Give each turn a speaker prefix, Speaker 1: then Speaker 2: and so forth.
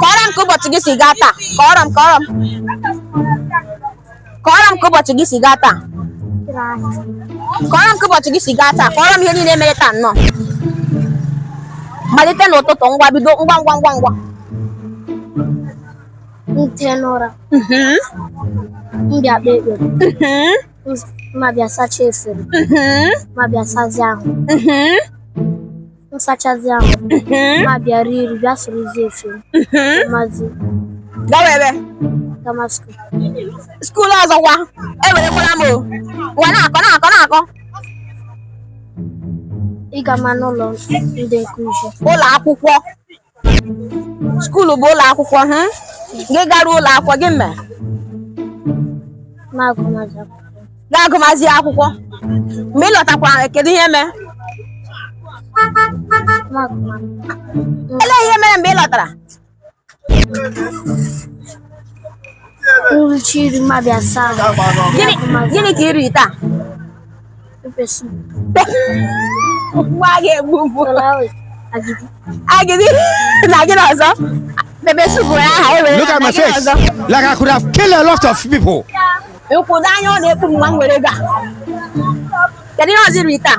Speaker 1: kọọrọ m ka ụbọchị gị si gaa taa kọọrọ m kọọrọ m kọọrọ m ka ụbọchị gị si gaa taa kọọrọ m ka ụbọchị gị si gaa taa kọọrọ m ihe niile mere taa nnọọ malite n'ụtụtụ ngwa bido ngwa ngwa ngwa ngwa m tee n'ụra mhm. m bịa kpee ekpere mhm. m abịa sacha efere mm-hmm. m abịa sazi ahụ mm-hmm. m sachazi ahụ mm-hmm. m abịa rie nri bịa sorozi efere mazi gawa ebe gama skuul skuul ọzọkwa ewerekwala m o wa na-akọ na-akọ na-akọ ị gama n'ụlọ ndị nkụzi ụlọ akwụkwọ skuulu bụ ụlọ akwụkwọ ha gị garuo ụlọ akwụkwọ gị mee gaa agụmazi akwụkwọ mgbe ị lọtakwa kedu ihe mee olee ihe mere mgbe ị lọtara gịnị ka i riri taa Nwa ga-egbu ugbu agidi na gịnị ọzọ pepper soup ya aha ewere Look at my face. Like I could have killed a lot of people. Nkwụdo anya ọ na-ekpu mgbe m were ga. Kedu ihe ọzọ i ri taa?